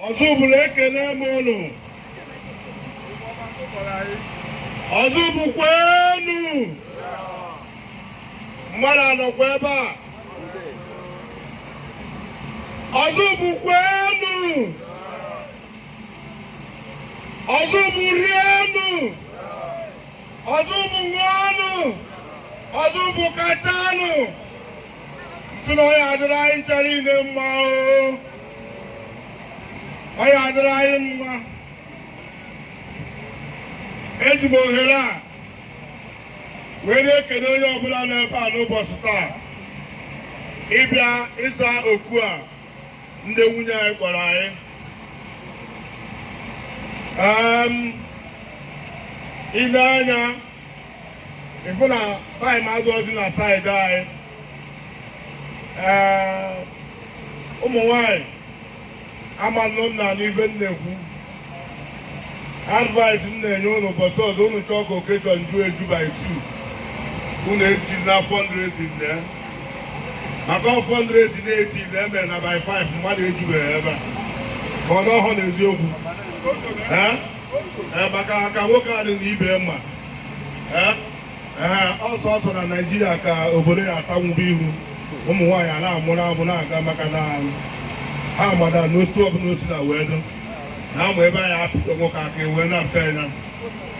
ọzụbụlụ ekene m ụnụ ọzụbụlụ kwenu mmadụ anọkwa ebe a ọzụbụlụ kwenu ọzụbụlụ rienu ọzụbụlụ ṅụọnụ ọzụbụlụ kachanụ m sị na ọ ya adịrị anyị ncha niile mma o ọ ya adịrị anyị mma eji m ohere a wee na-ekene onye ọbụla nọ ebe a n'ụbọchị taa ịbịa ịza oku a ndị nwunye anyị kpọrọ anyị i lee anya ị fụ na time adịrọzi na side anyị ee ụmụ nwanyị ama nọ m na n'ife m na-ekwu advice m na-enye ụnụ ụbọchị ọzọ ụnụ chọọ ka occasion ju eju by two ụnụ eji na fundraising na ya maka ọ fundraising na-eti na eme na by five mmadụ ejubeghị ebe a ka ọ n'ọhụrụ n'eziokwu ee ee maka ka nwoke a dị na ibe mma ee ee ọsọ ọsọ na naijiria ka obodo ya atanwube ihu ụmụ nwaanyị a na-amụrụ amụ na-aga maka na ha ma that na otu ọbụla o si na wee dụ na amụ ebe anyị apụta nwoke aka ewee na-apụta ya na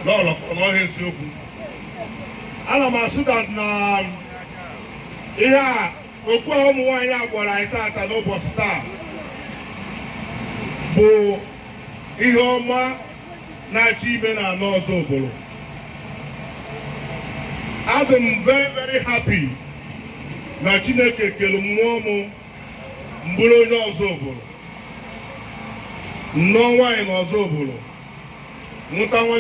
n'ọlọ ka ọ n'ọhịa eziokwu ana m asị that na ihe a okwu a ụmụ nwaanyị a gwara anyị tata n'ụbọchị taa bụ ihe ọma na-achọ ime na ala ọzụbụlụ adị m very very happy na Chineke kere mụ m bụrụ onye ọzụbụlụ nụọ nwaanyị na ọzụbụlụ mụta nwa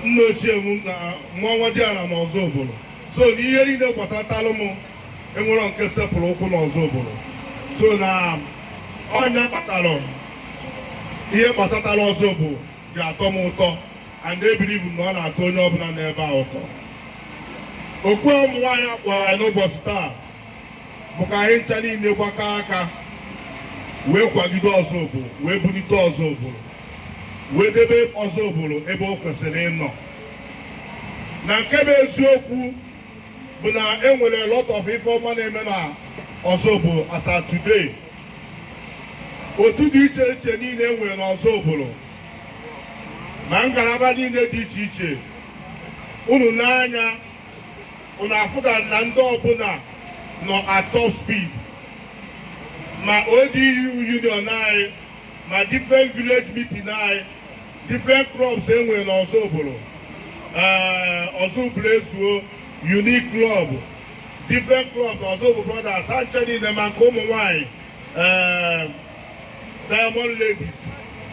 nna ochie m na nwa nwa diala na ọzụbụlụ so na ihe niile gbasatalụ m enwerọ nke sepụrụ ụkwụ n'ọzụbụlụ so na ọ ya kpatara ihe gbasatara ọzụbụlụ ji atọ m ụtọ and i believe na ọ na-atọ onye ọbụla nọ ebe a ụtọ oku ụmụ nwaanyị a kpọrọ anyị n'ụbọchị taa bụ ka anyị ncha niile gbakọọ aka wee kwagide ọzụbụlụ wee bulite ọzụbụlụ wee debe ọzụbụlụ ebe o kwesịrị ịnọ na nke bụ eziokwu bụ na e nwere a lot of ife ọma na-eme na Ọzụbụlụ as at today otu dị iche iche niile e nwere n'Ọzụbụlụ na ngalaba niile dị iche iche unu n'anya unu afụga na ndị ọbụla nọ at top speed ma ODU union anyị ma different village meeting anyị different clubs e nwere n'Ọzụbụlụ eh, Ọzụbụlụ ezuo unique club different clubs Ọzụbụlụ brothers ha ncha niile ma nke ụmụ nwanyị eh, diamond ladies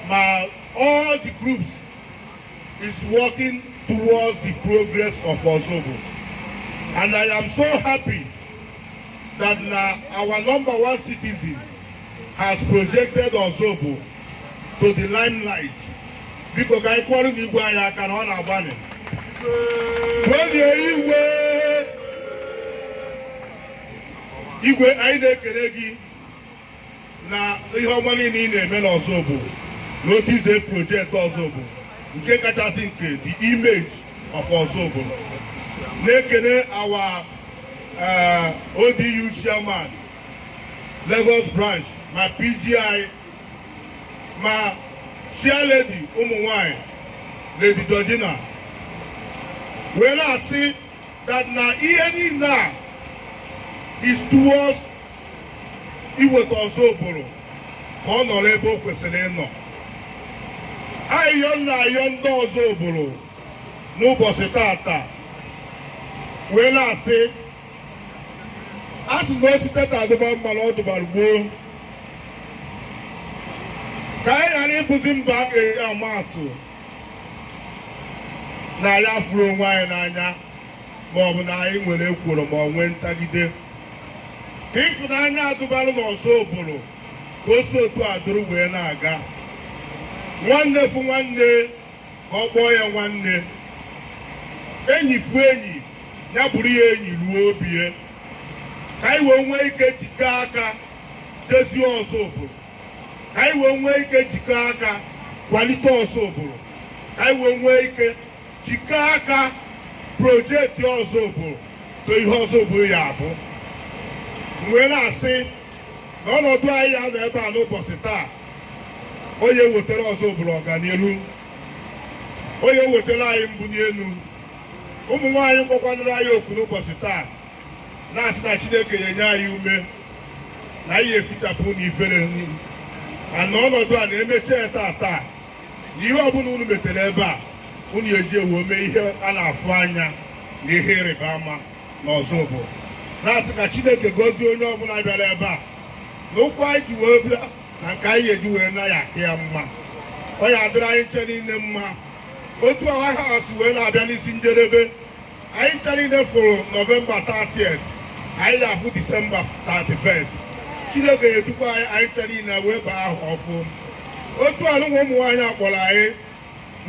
ma all the groups is working towards the progress of Ọzụbụlụ and i am so happy that na our number one citizen has projected Ọzụbụlụ to the limelight biko ka anyị kụọrọ nụ igwe anyị aka na ọ na-agbanị welie igwe igwe anyị na-ekele gị na ihe ọma niile ị na-eme n'Ọzụbụlụ na otu i si project Ọzụbụlụ nke kachasị nke the image of Ọzụbụlụ na-ekele our eh, ODU chairman Lagos branch ma PGI ma chairlady ụmụ nwanyị Lady Georgina wee na-asị that na ihe niile a is towards iweta Ọzụbụlụ ka ọ nọrọ ebe o kwesịrị ịnọ ayịyọ m na-ayọ ndị Ọzụbụlụ n'ụbọchị tata wee na-asị a sị na o site taa dụba mma na ọ dụbara gboo ka anyị ghara ịbụzi mba a ga-eji ama atụ na anyị afụrọ onwe anyị n'anya ma ọ bụ na anyị nwere ekworo ma ọ nwee ntagide ka ịfụnanya a dụbalụ na Ọzụbụlụ ka o si otu a dụrụ wee na-aga nwanne fụ nwanne ka ọ kpọọ ya nwanne enyi fụ enyi ya bụrụ ya enyi ruo obi ya ka anyị wee nwee ike jikọọ aka dezie Ọzụbụlụ ka anyị wee nwee ike jikọọ aka kwalite Ọzụbụlụ ka anyị wee nwee ike jikọọ aka project Ọzụbụlụ to ihe Ọzụbụlụ ya-abụ wee na-asị na ọnọdụ anyị ya-anọ ebe a n'ụbọchị taa ọ ya-ewetara Ọzụbụlụ ọganihu ọ ya-ewetara anyị mbuni elu ụmụ nwaanyị kpọkwanụrụ anyị oku n'ụbọchị taa na-asị na Chineke ya-enye anyị ume na anyị efichapụ unu ifere n'iru na ọnọdụ a na-emechi ya taa taa na ihe ọbụla unu metere ebe a unu ya-eji ya wee mee ihe a na-afụ anya na ihe ịrịba ama n'Ọzụbụlụ na-asị ka Chineke gọzie onye ọbụla bịara ebe a na ụkwụ anyị ji wee bịa na nke anyị ya-eji wee naa ya-aka ya mma ọ ya-adịrị anyị ncha niile mma otu ahọ a si wee na-abịa n'isi njedebe anyị ncha niile fụrụ nọvemba 30 anyị ya-afụ disemba 31 Chineke ya-edukwa anyị anyị ncha niile wee baa ahọ ọfụụ otu anụnwa ụmụ nwaanyị akpọrọ anyị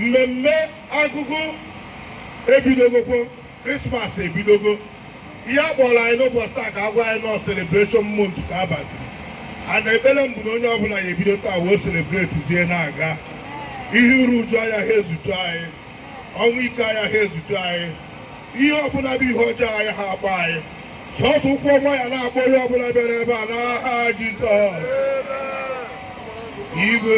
mmemme agụgụ ebidogokwo Krismas ebidogo ihe a kpọrọ anyị n'ụbọchị taa ka a gwa anyị na ọ celebration month ka a baziri and ekpere m bụ na onye ọbụla ya-ebido taa wee celebrate zie na-aga ihe iru uju ayaha ezutu anyị ọnwụ ike ayaha ezutu anyị ihe ọbụla bụ ihe ọjọọ ayaha akpọ anyị sọsọ ụkwụ ọma ya na-akpọ onye ọbụla bịara ebe a n'aha Jizọs igwe